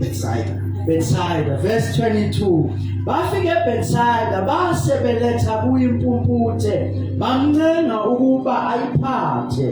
Bethsaida. Bethsaida verse 22 bafike eBethsaida base beletha kuyimpumputhe bamncenga ukuba ayiphathe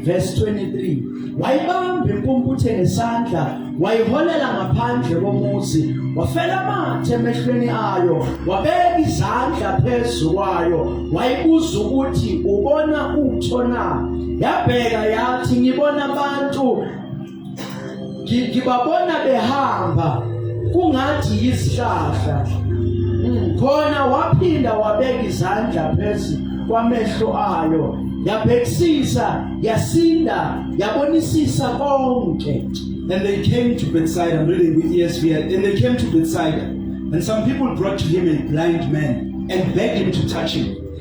verse 23 wayibamba impumputhe ngesandla wayiholela ngaphandle komuzi wafela amathe emehlweni ayo wabeka izandla phezu kwayo wayibuza ukuthi ubona utho na yabheka yathi ngibona abantu ngibabona behamba kungathi yisihlahla hmm, khona waphinda wabeka izandla phezu kwamehlo ayo yabhekisisa yasinda yabonisisa konke and they came to bedside i'm reading with esv and they came to bedside and some people brought to him a blind man and begged him to touch him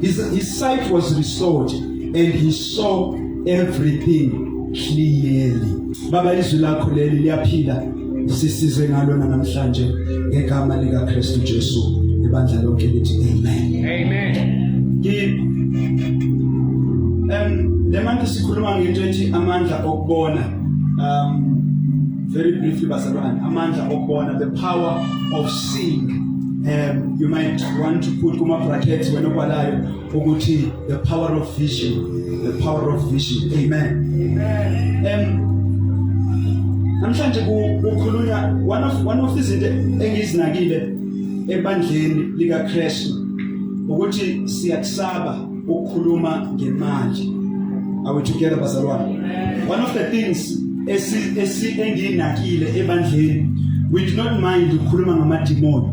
His, his sight was restored and he saw everything clearly. Baba izwi lakho leli liyaphila sisize ngalo namhlanje ngegama lika Kristu Jesu ibandla lonke lithi amen. Amen. Ki um le manje sikhuluma ngento ethi amandla okubona um very briefly bazalwane amandla okubona the power of sing um you might want to put kuma brackets wena obalayo ukuthi the power of vision the power of vision amen amen um namhlanje kukhulunywa one of one of izinto engizinakile ebandleni likaKristu ukuthi siyakusaba ukukhuluma ngemali are we together bazalwane one of the things esiyinakile ebandleni we do not mind ukukhuluma ngamadimoni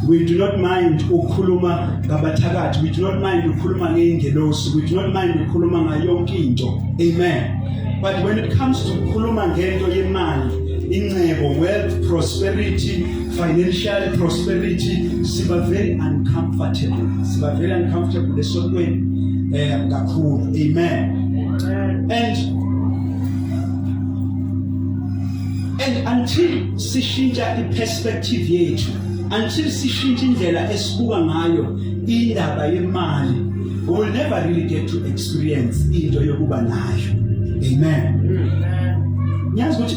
we do not mind ukukhuluma ngabathakathi we do not mind ukukhuluma ngeingelosi we do not mind ukukhuluma ngayonke into amen but when it comes to ukukhuluma ngento yemali incebo wealth prosperity financial prosperity siba very uncomfortable siba very uncomfortable esontweni eh kakhulu amen and and until sishintsha iperspective yethu until sishintsha indlela esibuka ngayo indaba yemali we will never really get to experience into yokuba nayo amen ngiyazi ukuthi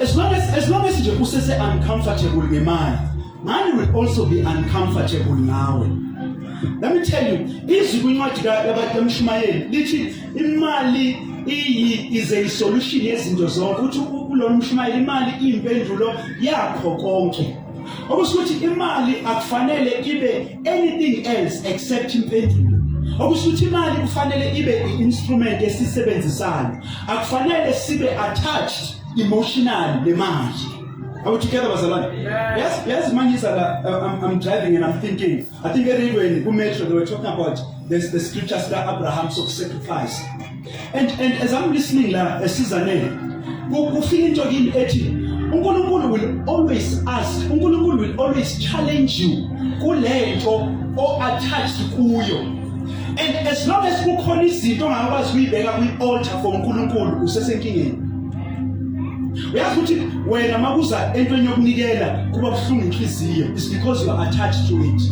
As long as as long as nje usese uncomfortable ngemali, money will also be uncomfortable nawe. Let me tell you, izwi kwincwadi kaMshumayeli lithi imali iyi is a solution yezinto zonke. Uthi kulona mshumayeli imali impendulo yakho konke. okusho ukuthi imali akufanele ibe anything else except impendulo okusho ukuthi imali kufanele ibe i-instrument esisebenzisayo akufanele sibe attached emotionally nemali Are we together, Bazalwane? Yes. Yes, yes, man, yes, I'm, I'm driving and I'm thinking. I think I read when Kumetro, they were talking about this, the scripture that Abraham so sacrifice. And, and as I'm listening la, esizaneni, kufika into kimi ethi uNkulunkulu will always ask, uNkulunkulu will always challenge you kulento o attached kuyo. And as long as kukhona izinto ongakwazi kuyibeka kwi-altar for uNkulunkulu usesenkingeni. uyazi ukuthi wena makuza entweni yokunikela kuba buhlungu inhliziyo is because you are attached to it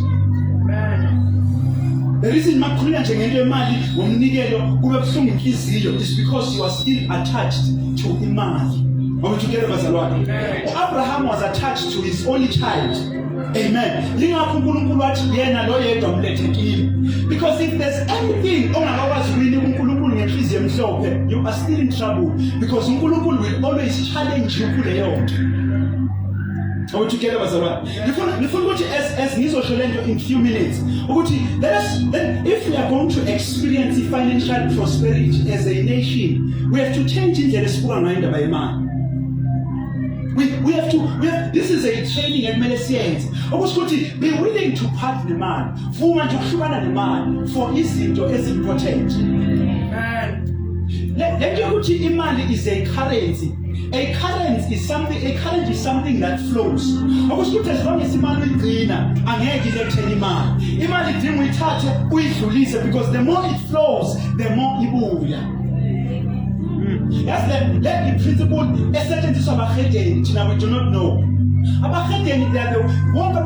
the reason makukhulula nje ngento yemali ngomnikelo kube buhlungu inhliziyo is because you are still attached to imali Are we together, Bazalwane? Abraham was attached to his only child. Amen. Lingakho uNkulunkulu wathi yena lo yedwa mlethe kimi. Because if there's anything ongakwazi wini uNkulunkulu ngenhliziyo emhlophe, you are still in trouble because uNkulunkulu will always challenge you kuleyo nto. Are we together bazalwane? Ngifuna ngifuna ukuthi as as ngizosho lento in few minutes ukuthi let us then if we are going to experience financial prosperity as a nation, we have to change indlela esibuka ngayo indaba yemali. We, we have to we have, this is a training ekumele siyenze okusho ukuthi be willing to part nemali vuma nje ukuhlukana nemali for izinto ezimportant lento yokuthi imali is a currency a currency is something a currency is something that flows okusho ukuthi as long as imali uyigcina angeke ilethele imali imali idinga uyithathe uyidlulise because the more it flows the more ibuya yazi le le i-principle esetshenziswa abahedeni thina we do not know abahedeni labo wonke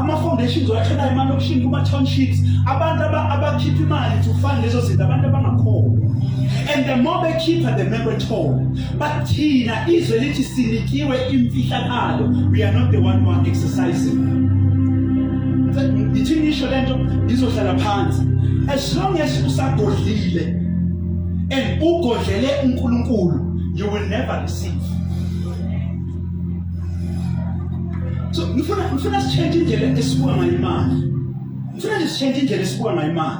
ama-foundations owatholayo emalokishini kuma-townships abantu abakhipha imali to fund lezo zinto abantu abangakhona and the more bekhipha the more bethole But thina izwe lithi sinikiwe imfihlakalo. We are not the one who are exercising. Ngithi ngisho lento ngizohlala phansi. As long as usagodlile and ugodlele uNkulunkulu, you will never receive. So ngifuna ngifuna sichange indlela esibuka ngayo imali. Ngifuna nje sichange indlela esibuka ngayo imali.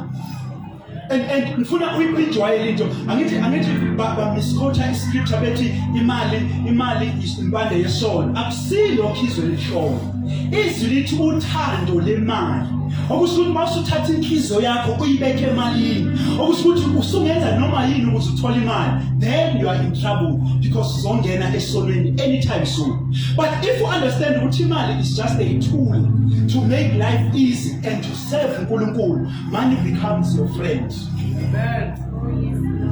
and and ngifuna uyijwayele into angithi angithi bamiskhotha iscripture bethi imali imali impande yesono akusilo khizwe lishona izwi lithi uthando lemali okusho ukuthi uma usuthatha inhliziyo yakho uyibeke emalini okusho ukuthi usungenza noma yini ukuze uthole imali then you are in trouble because uzongena esonweni anytime soon but if you understand ukuthi imali is just a tool to make life easy and to Serve uNkulunkulu, money becomes your friend. Amen.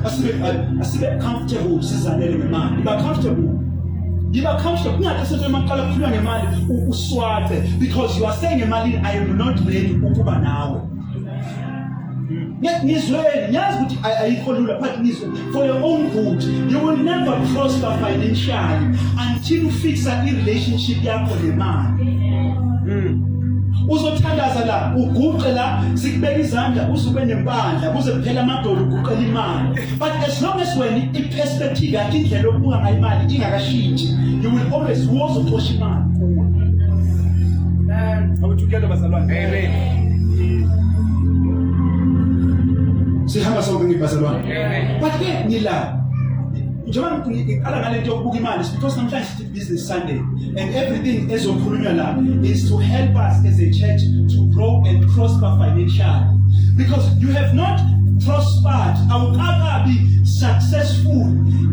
Asibe asibe comfortable sizalele ngemali. Ba comfortable. Yiba comfortable kungathi sento emaqala kukhulwa ngemali uswace because you are saying emalini I am not ready ukuba nawe. Ngizweni, ngiyazi ukuthi ayikho lula but ngizweni. for your own good you will never prosper financially until ufixa i-relationship yakho nemali mm. uzothandaza la uguqe la sikubeka izandla uzube nempandla kuze kuphela amadolo uguqela imali but as long as wena i-perspective yakhe indlela okubuka ngayo imali ingakashintshi you will always wozoxosha imali kuwe Amen. Together, Amen. Sihamba sonke ngibazalwane. but ke ngila njengoba ngiqala ngale nto yokubuka imali because namhlanje sithi business sunday and everything ezokhulunywa la is to help us as a church to grow and prosper financially because you have not prospered awukakabi successful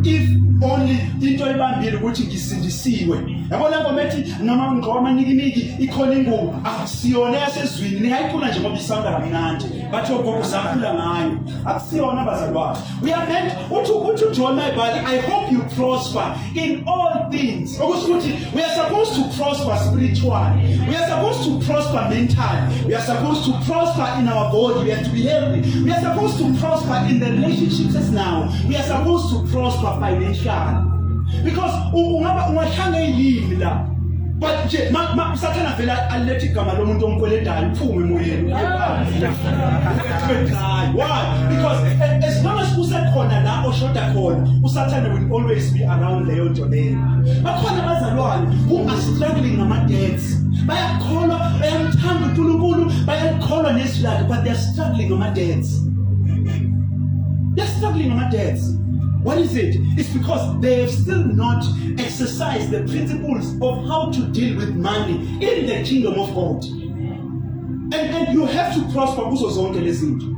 if only into ebambile ukuthi ngisindisiwe yabo labo methi noma ngqoma nikiniki ikhona ingubo akusiyona yasezwini ningayicula nje ngoba isanda kamnandi bathi ogogo usakhula ngayo akusiyona abazali bakho uyabona uthi uthi uJohn Mayibali i hope you prosper in all things okusho ukuthi we are supposed to prosper spiritually we are supposed to prosper mentally we are supposed to prosper in our body we have to be healthy we are supposed to prosper in the relationships as now we are supposed to prosper financially because ungaba ungahlanga ilimi la but nje usathane avele alethe igama lomuntu omkweledayo uphume emoyeni because as long as kusekhona la oshoda khona usathane will always be around leyo nto leyo bakhona abazalwane who are struggling ngama-debts bayakholwa bayamthanda unkulunkulu bayakholwa nezwi lakhe but they're struggling ngama-debts they're struggling ngama-debts What is it? It's because they have still not exercised the principles of how to deal with money in the kingdom of God. And, and you have to prosper kuzo zonke lezi zinto.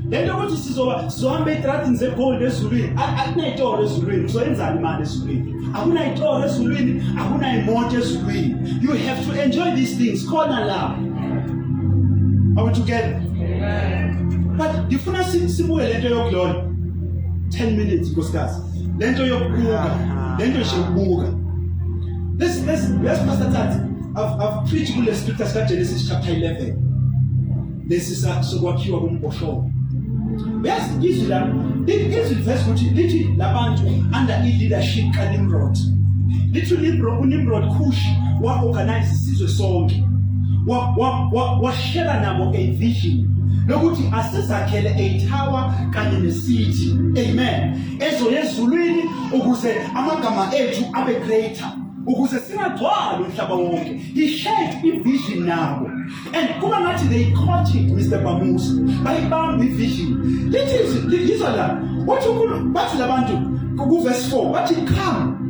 Lento ukuthi sizoba sizohamba etracking zegold ezulwini akunayitoro ezulwini uzoyenzani imali ezulwini akunayitoro ezulwini akunayimoto ezulwini you have to enjoy these things khona la are we together amen but ngifuna sibuye lento yokulona 10 minutes nkosikazi lento yokubuka lento nje yokubuka this this yes pastor Tati I've I've preached kule scripture sika Genesis chapter 11 lesi sokwakhiwa komboshoko yes izwi la izwi verse ukuthi lithi labantu under i leadership ka Nimrod lithi Nimrod uNimrod Kush wa organize isizwe sonke wa wa wa shela nabo a vision lokuthi asizakhele a tower kanye nesithi amen ezoya ezulwini ukuze amagama ethu abe greater ukuze singagcwali umhlaba wonke he shared ivision nabo and kuba ngathi they caught it mr bamusa bayibamba ivision lithi lizwa la wathi unkulunkulu bathi labantu kuvesi 4 bathi come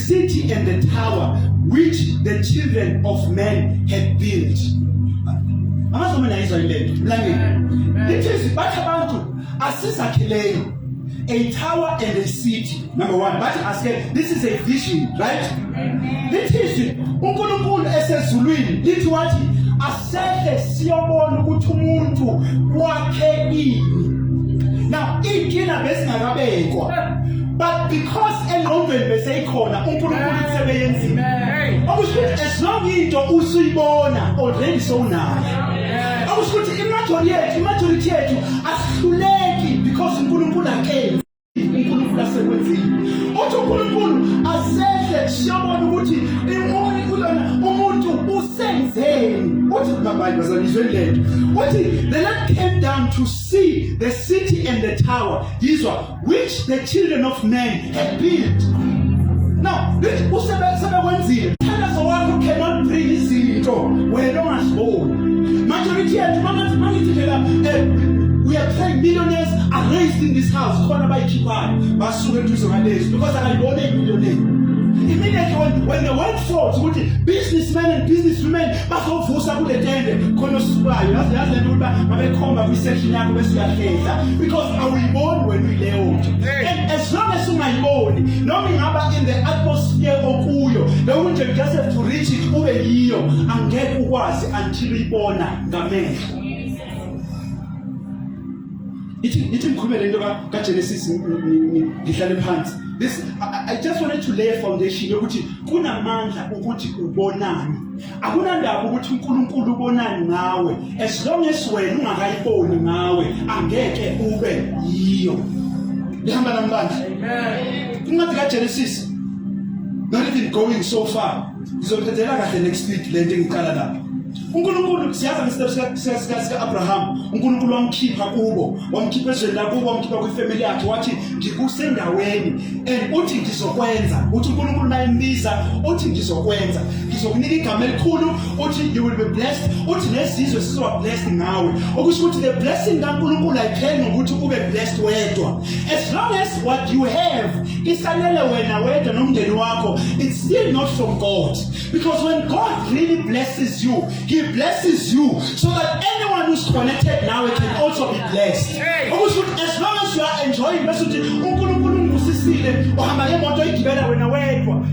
city and the tower which the children of men had built amazoma nayizwa ilento mlangeni lithi bathi abantu asizakheleni a tower and a city number 1 bathi asike this is a vision right lithi uNkulunkulu esezulwini lithi wathi sehle siyobona ukuthi umuntu wakhe ini now inkinga besingakabekwa but because engqondweni beseyikhona uNkulunkulu usebeyenzile okusho ukuthi as long into usuyibona already sowunayo okusho ukuthi imajority yethu imajority yethu asihluleki because uNkulunkulu akenzi uNkulunkulu asekwenzile uthi uNkulunkulu asehle siyabona ukuthi imuni kulona umuntu usenzeni uthi ngabanye bazalizwe lento uthi the Lord came down to see the city and the tower yizwa which the children of men had built now lithi usebekwenzile thandazo wakho cannot bring izinto wena ongaziboni majority yethu mangathi mangithi phela eh, we are praying millionaires are raised in this house khona bayikhiphayo basuke eduze kwalezi because akayibona impilo leyo immediately when, when the word falls ukuthi businessmen and businesswomen bazovusa kule tende khona osukayo yazi yazi lento ukuthi babekhomba kwi-section yakho bese uyahlehla because awuyiboni wena uyileyo nto and as long as ungayiboni noma ingaba in the atmosphere okuyo bewunje just have to reach it ube yiyo angeke ukwazi until uyibona ngamehlo ithi ithi ngikhulume lento ka ka Genesis ngihlale phansi this I, I just wanted to lay a foundation yokuthi kunamandla ukuthi ubonani akunandaba ukuthi uNkulunkulu ubonani ngawe as long as wena ungakayiboni ngawe angeke ube yiyo lihamba nambandla amen incwadi ka Genesis not even going so far ngizothathela kahle next week lento engiqala lapha uNkulunkulu siyazi ngesitepu sika-Abraham uNkulunkulu wamkhipha kubo wamkhipha ezweni lakubo wamkhipha kwifamily yakhe wathi ngikusendaweni and uthi ngizokwenza uthi uNkulunkulu naye mbiza uthi ngizokwenza ngizokunika igama elikhulu uthi you will be blessed uthi nezizwe sizoba blessed ngawe okusho ukuthi the blessing kaNkulunkulu ayipheli ngokuthi ube blessed wedwa as long as what you have isalele wena wedwa nomndeni wakho it's still not from God Because when God really blesses you, He blesses you so that anyone who's connected now can also be blessed. As long as you are enjoying,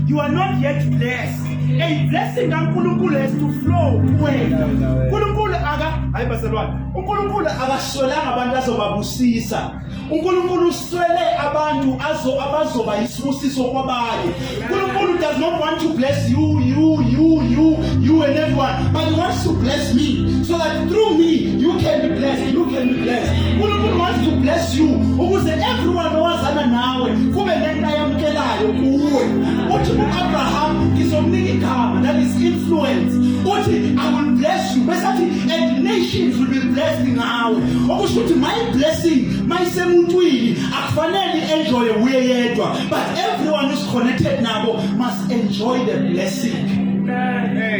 you are not yet blessed. A blessing kaNkulunkulu has to flow kuwena. Nkulunkulu aka hayi baselwane. uNkulunkulu akaswelanga abantu azobabusisa uNkulunkulu uswele abantu azo abazoba isibusiso kwabanye uNkulunkulu does not want to bless you you you you you and everyone but he wants to bless me so that through me you can be blessed you can be blessed uNkulunkulu wants to bless you ukuze everyone owazana nawe kube lento ayamkelayo kuwe uthi uAbraham ngizomnika igama that is influence uthi i will bless you bese athi and nations will be blessed awe okusho ukuthi my blessing mayisemuntwini akufanele enjoy uye yedwa but everyone who's connected nabo must enjoy the blessing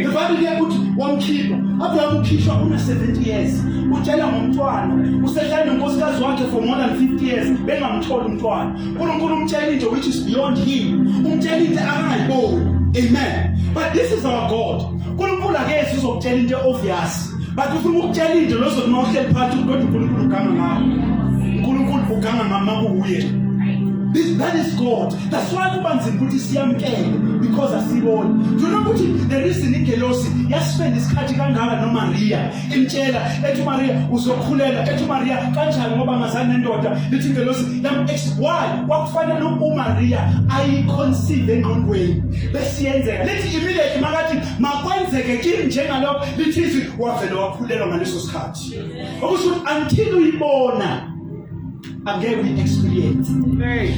the bible liyakuthi wamkhipha abraham ukhishwa una 70 years utshela ngomntwana usehlale nonkosikazi wakhe for more than 50 years bengamtholi umntwana unkulunkulu umtshela into which is beyond him umtshela into akangayiboni amen but this is our god unkulunkulu akezi uzokutshela into obvious But ufuna ukutshela into lozo noma uhleli phansi kodwa uNkulunkulu uganga ngawo. uNkulunkulu uganga ngama kuye. This that is God. That's why kuba nzima ukuthi siyamkele because asiboni. Do you know ukuthi the reason ingelosi yaspend isikhathi kangaka no Maria imtshela ethi Maria uzokhulela ethi Maria kanjani ngoba ngazani nendoda lithi ingelosi yam ex why kwakufanele uMaria ayiconceive engqondweni besiyenzeka lithi immediately makathi makwenzeke kimi njengalokho lithi izwi wavele wakhulelwa ngaleso sikhathi okusho ukuthi until uyibona angeke uyi-experience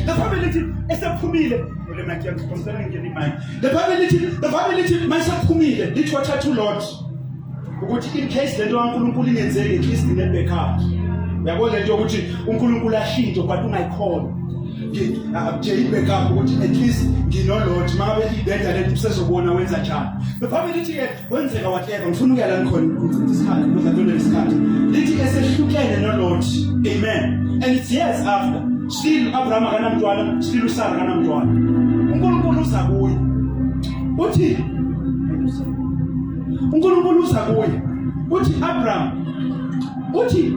the family lithi esephumile le mike yakuphosela ngene imike the family lithi the family lithi mayisephumile lithi wathatha ulord ukuthi in case lento kaNkuluNkulu ingenzeki at least ngebackup uyabo lento yokuthi uNkuluNkulu ashintshe but ungayikhona akutsheli backup ukuthi at least nginolot uma ngabe ibheda lento usezobona wenza njani bephambi lithi-ke kwenzeka whatever ngifuna ukuya la nikhona ngichitha isikhathi ngizadonela isikhathi lithi-ke sehlukene nolot amen and it's years after still u-abraham akanamntwana still usara akanamntwana unkulunkulu uza kuye uthi unkulunkulu uza kuye uthi abraham uthi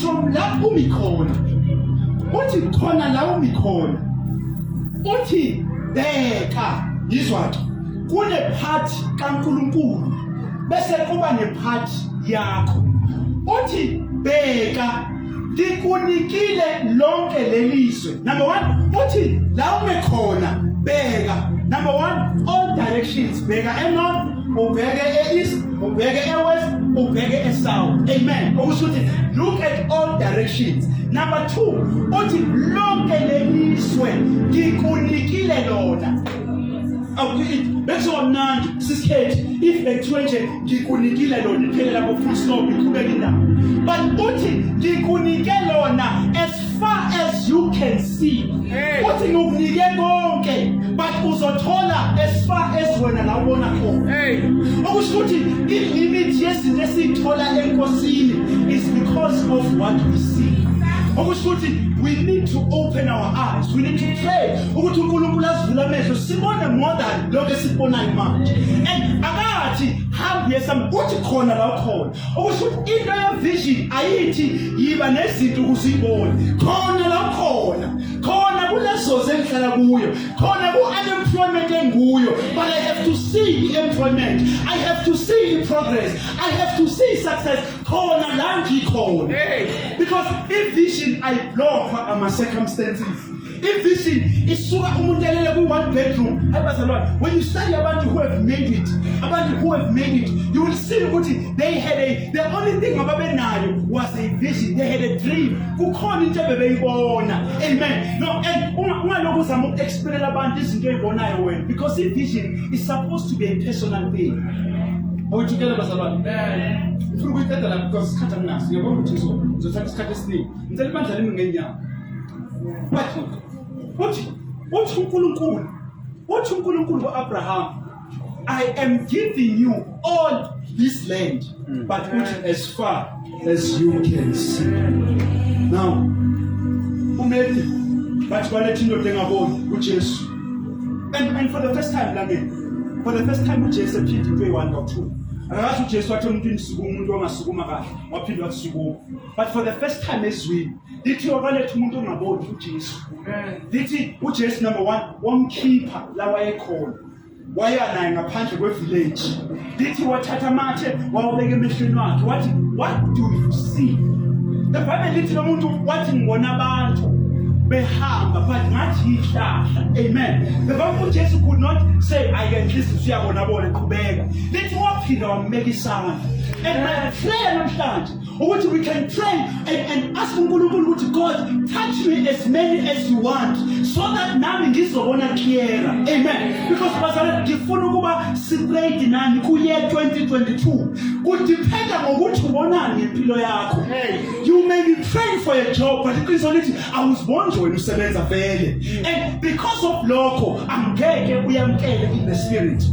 from la umi khona uthi khona la umi khona uthi bheka yizwathi kune part kaNkuluNkulu bese kuba ne part yakho uthi bheka ngikunikile lonke lelizwe number 1 uthi la umi khona bheka number 1 all directions bheka enorth ubheke e-east ubheke e-west ubheke e-south amen okusho ukuthi look at all directions number two uthi lonke leliswe ngikunikile lona bekuzoba mnandi sisikhethi if bekuthiwe nje ngikunikile lona iphelelapho full stop iqhubeka indawo but uthi ngikunike lona far as you can see uthi ngikunike konke but uzothola as far as wena la ubona khona okusho ukuthi i-limit yezinto esiyithola enkosini is because of what we see okusho ukuthi we need to open our eyes we need to pray ukuthi uNkulunkulu asivule amehlo sibone more than lokho esikubonayo manje and akathi hambi yesami uthi khona la ukhona okusho ukuthi into yevision ayithi yiba nezinto ukuze uyibone khona la khona khona kulezozi engihlala kuyo khona ku-unemployment enguyo but i have to see i-employment i have to see i-progress i have to see success khona la ngikhona because ivision ayiblokhwa ama-circumstances ivision isuka umuntu elele kwi-one bedroom abazalwane when you study abantu who have made it abantu who have made it you will see ukuthi they had a the only thing ababenayo was a vision they had a dream kukhona into ebebeyibona amen no and ungalokhu uzama uku-explainela abantu izinto eyibonayo wena because i-vision is supposed to be a personal thing awujikela bazalwane ngifuna ukuyiqeda la because isikhathi anginaso ngiyabona ukuthi ngizothatha isikhathi esiningi ngicela ibandla limi ngenyawo uthi uthi uNkulunkulu uthi uNkulunkulu uAbraham I am giving you all this land hmm. but uthi as far as you can see now umethi bathi baletha indoda engaboni uJesu and and for the first time la ngeke for the first time uJesu ephinde into eyi-one or two akakathi uJesu wathi umuntu indisuku umuntu ongasukuma kahle waphinde wakusukuma but for the first time ezwini lithi wakaletha umuntu ongaboni ujesu lithi ujesu number one wamkhipha la wayekhona waya naye ngaphandle kwe-village lithi wathatha amathe wawabeka emehlweni wakhe wathi what do you see the bible lithi lo muntu wathi ngibona abantu behamba but ngathi yihlahla amen the bible ujesu could not say i can listen siyabona bona qhubeka lithi waphinde wambeka isandla and my prayer namhlanje ukuthi we can pray and, and ask uNkulunkulu ukuthi God touch me as many as you want so that nami ngizobona clearer amen because bazalwane ngifuna ukuba siprayed nani kuye 2022 kudiphenda ngokuthi ubonani ngempilo yakho you may be praying for a job but iqiniso lithi awuziboni nje wena usebenza vele and because of lokho angeke uyamkele in the spirit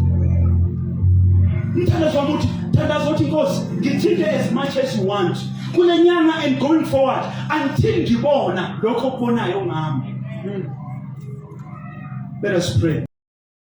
mthandazwa ukuthi thandaza uthi nkosi ngithinte as much as you want kule nyanga and going forward until ngibona lokho okubonayo ngami hmm. let us pray